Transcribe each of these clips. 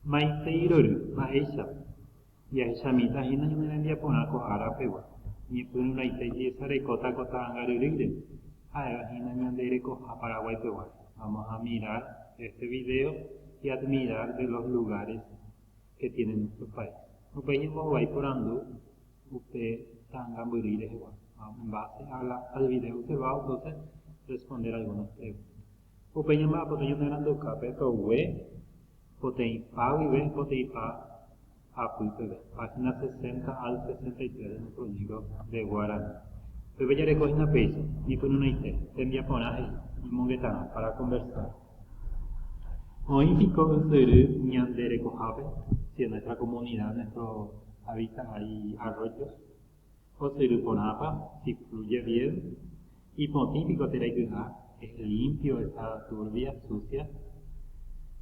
Ha maitei rory, mba'éichapa? Jahecha mitã hína ñane rembiaporã ko ára pegua, ñepyrũraite jesarekóta ko ta'ãngaryrýire, ha'éva hína ñande rekoha Paraguái peguáre. Vamos a mirar este video y admirar de los lugares que tiene nuestro país. Upéi ñembohovái porandu upe ta'ãngambyry rehegua. Vamos en base al video observado entonces responder algunas preguntas. Upe ñamba'apote ñanerandukápe togue poteĩpa guive poteĩpa apy peve, página 60 al 63 de nuestro libro de Guarani. Upépe jareko hína péicha, ñepyrũneite, tembiaporã he'i, ñemongetarã, para conversar. Oĩ piko ysyry ñande rekohápe, si en nuestra comunidad, en nuestro hábitat hay arroyos? Osyry porãpa, si fluye bien? Ipotĩ piko térã iky'a, es limpio, está turbia, sucia?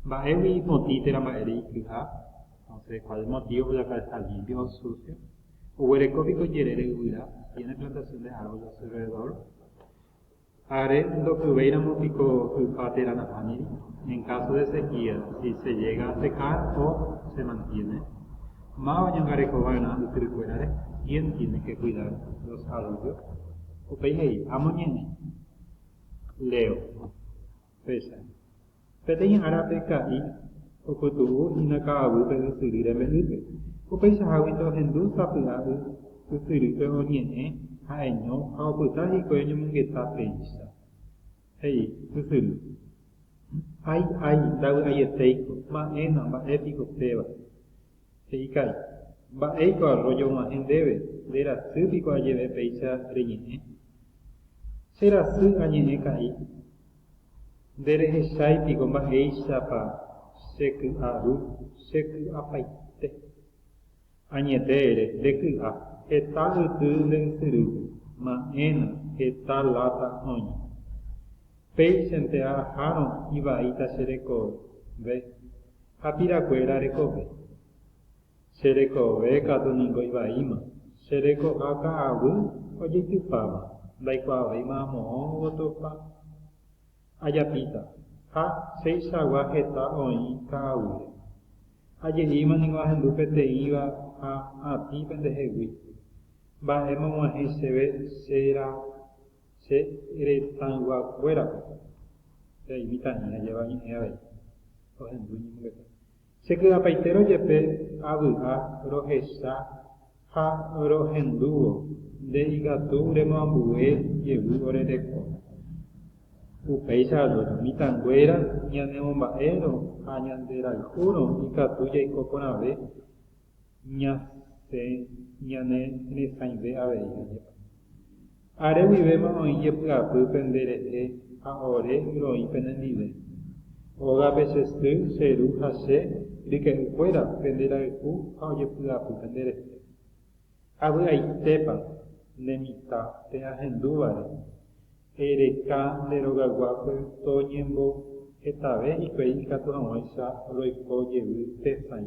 Mba'égui ipotĩ térã mba'ére iky'a? Entonces, ¿cuál el motivo por la cual está limpio o sucio? Oguereko piko jerére yvyra? ¿Tiene plantación de árboles a su alrededor? Ha'are ndokyvéiramo piko hypa térã nahániri? En káso de sekía, si se llega a secar o se mantiene? Máva oñangareko va'erã ysyrykuérare? Quién tiene que cuidar los arroyos? Upéi he'i, Amoñe'ẽ. Leo. Péicha. Peteĩ árape Ka'i opytu'u hína ka'aguýpe ysyry rembe'ýpe. Upeichaháguinte ohendu sapy'a y ysyrýpe oñe'ẽ ha'eño ha opyta hikuái oñomongeta péicha. He'i ysyry, Ay, ay, ndavy'aietéiko, ma'ẽna, mba'épiko péva. He'i Kay, Mba'éiko arrójo og̃uahẽ ndéve, nde rasy piko ajeve péicha reñe'ẽ? Che rasy añe'ẽ ka'i. Nderehechái piko mba'éichapa che ky'a ru, che ky'apaite. Añete ere, nde ky'a, heta yty nde ysyrýpe, ma'ẽna, heta láta oña. Péichante aha'arõ ivaíta che rekove. Ha pirakuéra rekove. Che rekove katu ningo ivaíma, che rekoha ka'aguy ojeitypáva ndaikuaavéima amo'õ ogotopa. Ajapíta, ha cheichagua heta oĩ ka'aguýre. Aje'íma ningo ahendu peteĩva ha atĩ pendehegui. Mba'éma og̃uahẽ chéve che Che retãyguakuérape reimíta ani ajépa ñe'ẽ avei ohendu iñemongeta. Che ky'apaitérõ jepe avy'a rohecha ha rohendúvo nde ikatu remoambue jevy ore reko. Upéicha avérõ, mitãnguéra ñanemomba'érõ ha ñanderayhúrõ ikatu jaiko porãve ñasẽ ñane resãive avei añepa. Are guivéma oĩ jepy'apy pende rehe ha ore roĩ penendive. Ógape che sy, che ru ha che ryke'y kuéra pende rayhu ha ojepy'apy pende rehe. Avy'aitépa nde mitã pe ahendúvare e reka nde rogaguápe to ñembo hetave hikuái ikatu haguãicha roiko jevy pe sãi.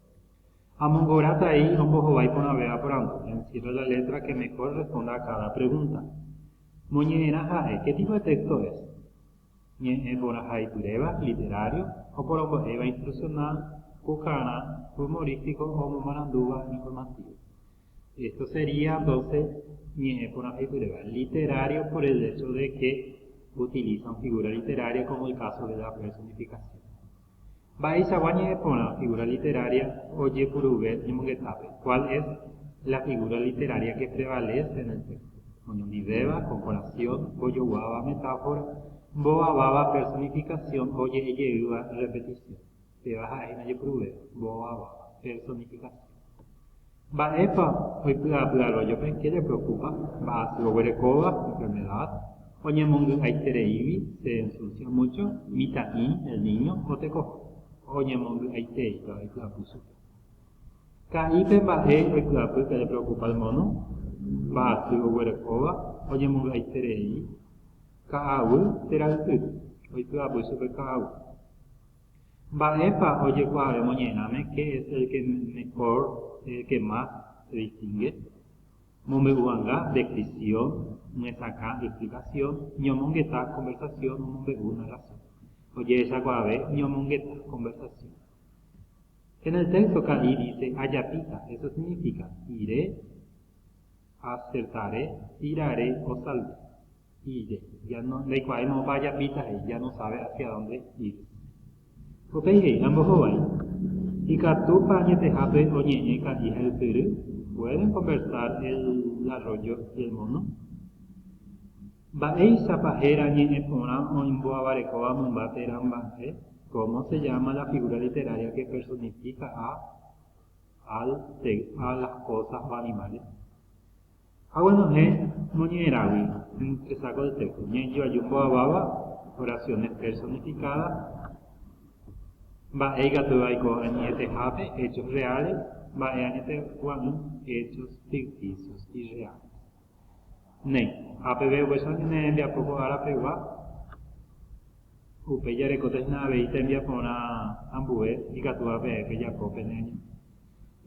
Amongoratái ombohovái porãvéva porandu, encierra la letra que mejor responda a cada pregunta. Moñe'ẽrã ha'e, ¿qué tipo de texto es? Ñe'ẽ porãhaipyréva, literario, oporombo'éva instruccional, pukarã, humorístico o omomarandúva informativo. Esto sería, entonces, ñe'ẽ porãhaipyréva, literario por el hecho de que utilizan figura literaria como el caso de la personificación. Mba'eichagua ñe'ẽ porã figura literaria ojepuruve ñemongetápe, cuál es la figura literaria que prevalece en el texto, oñondivéva, comparación, ojoguáva, metáfora, mbovaváva, personificación, oje'ejeýva, repetición. Péva ha'e hína ojepuruvéva, mbovaváva, personificación. Mba'épa oipy'apy'arojope jerepreokupa mba'asy oguerekóva, enfermedad, oñemongy'aitereígui, se ensucia mucho, mitã'i, el niño, o tekoha, oñemongy'aitei pe oipy'apy chupe? Ka'i pe mba'e oipy'apy perepreokupa el mono, mba'asy oguerekóva, oñemongy'aiterei, ka'aguy, térã yty, oipy'apy chupe ka'aguy. Mba'épa ojekuaave moñe'ẽrãme qué es el que mejor, el que más, se distingue? Mombe'u hag̃ua descripción, myesakã explicación, ñomongeta conversación, omombe'u narración. Ojehechakuaave ñomongeta conversación. En el texto ka'i dice ajapíta, eso significa, iré, Ha Sesare pirare osalta. Ire. Ya no, ndaikuaái moõpa ajapíta he'i, ya no sabe hacia dónde ir. Upéi he'i, Ambohovái, ikatúpa añetehápe oñe'ẽ ka'i ha ysyry? Pueden conversar el arroyo y el mono? Mba'éichapa héra ñe'ẽ porã oimbo'avarekóva mymba térã mba'e? Cómo se llama la figura literaria que personifica a Al tegha las cosas o animales. Aguenohẽ moñe'ẽragui empresa ko texto, ñe'ẽju aju mbo'aváva, oraciones personificadas, mba'e ikatu aiko añetehápe, hechos reales, mba'e añetegua'ỹ, hechos ficticios irreales. Néi. Ha peve ovecha oñeme'ẽ hembiapo ko ára pegua, upéi jarekóta hína avei tembiaporã ambue ikatúva peẽ pejapo pene año.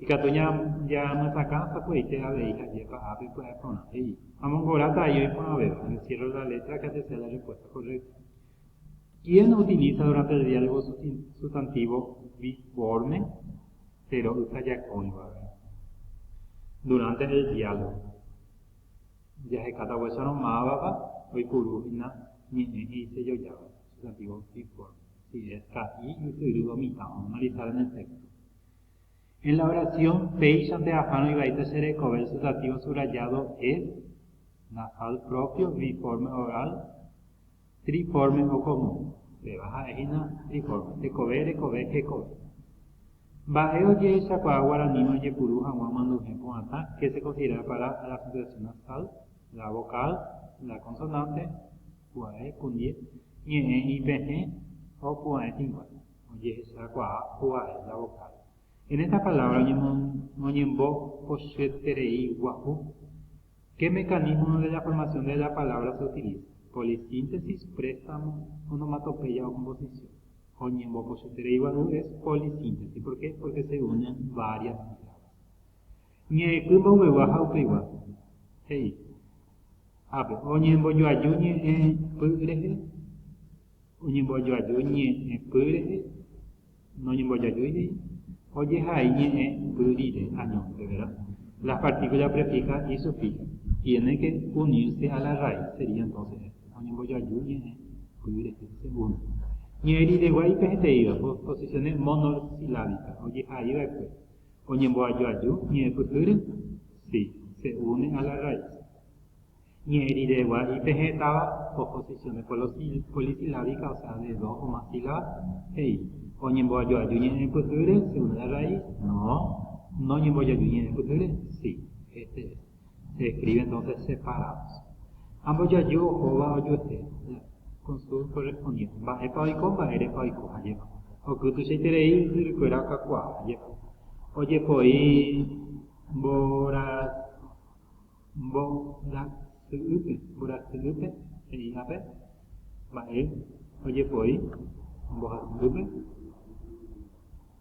Ikatu ñamyesakã sapy'aite avei hajépa ha pepy'aporã, he'i. Amongora ta'i oiporãvéva, encierro la letra que atesea la respuesta correcta. Hieno utiliza durante el diálogo sustantivo biforme che ro'y ha jakõiva. Durante el diálogo. Jahekáta vuésarõ mávapa oipuru hína ñe'ẽ he'isejojáva, sustantivo biforme. Si es ka'i, ysyry, o mitã, analizar en el texto. En la oración péichante ahárõ ivaíta che rekove el sustantivo subrayado es nasal propio biforme oral Triformes o común, péva ha'e hína triformes, tekove, rekove, hekove. Mba'e ojehechakuaa guaraníme ojepuru hag̃ua manduhẽ pu'atã que se considera para la sucesión nasal, la vocal, la consonante, pu'a'e, kundie, ñe'ẽ ipehẽ o pu'a'e tĩgua, ojehechakuaa pu'a'e, la vocal. En esta palabra oñembopochyeterei guahu. Che mecanismo de la formación de la palabra se utiliza, polisíntesis, préstamo, onomatopeya o composición. Oñembopochyterei gua'u es polisíntesis, por qué? Porque se unen varias sílabas. Ñe'ẽky mboyvegua ha upeigua, he'i. Ápe, oñembojoaju ñe'ẽpy rehe, oñembojoaju ñe'ẽpy rehe. Noñembojajuivéi, ojehai ñe'ẽ y rire añónte, vera. Las partículas prefijas y sufijas tienen que unirse a la raíz, sería entonces esto, oñembojaju ñe'ẽ y rehe, se une. Ñe'ẽ rire guáipe heteíva, posiciones monosilábicas, ojehai va'ekue, oñemboajoaju ñe'ẽpyhýre, sí, se une a la raíz. Ñe'ẽ rire guarí pe he'táva oposición de polisilábica, osea de dos o más sílabas, he'i, Oñemboajoaju ñe'ẽ pyhýre, se une la raíz, no, Noñembojoaju ñe'ẽ pyhýre, si, este es, se escribe entonces separados. Ambojoaju ohóva ojuehe, la consul correspondiente, mba'épa oiko, mba'érepa oiko, ajépa, oky tuichaiterei ysyrykuéra okakuaa, ajépa, ojepoi mborasy, Mborasy'ýpe, mborasy'ýpe he'ívape mba'e ojepoi mbohasy'ýpe,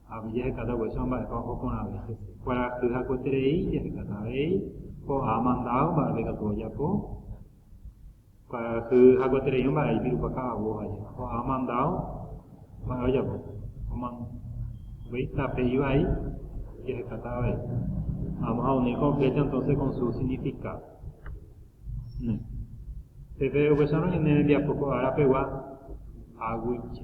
ha umi jahekáta upéichama mba'épa oho porãve hese. Kuarahy hakueterei jahekáta avei ko'ã mandado mba'épa ikatu ojapo. Kuaajy ha kuaterei mba'e ipirupa ka'avo ha jepa. Ko ha mandado mba'e ojapo. Oman, upéi tape ivai jahekáta avei. Vamos a unir con flecha entonces con su significado. Ne. Peve upéicharõ ñane rembiapo ko ára pegua, aguije.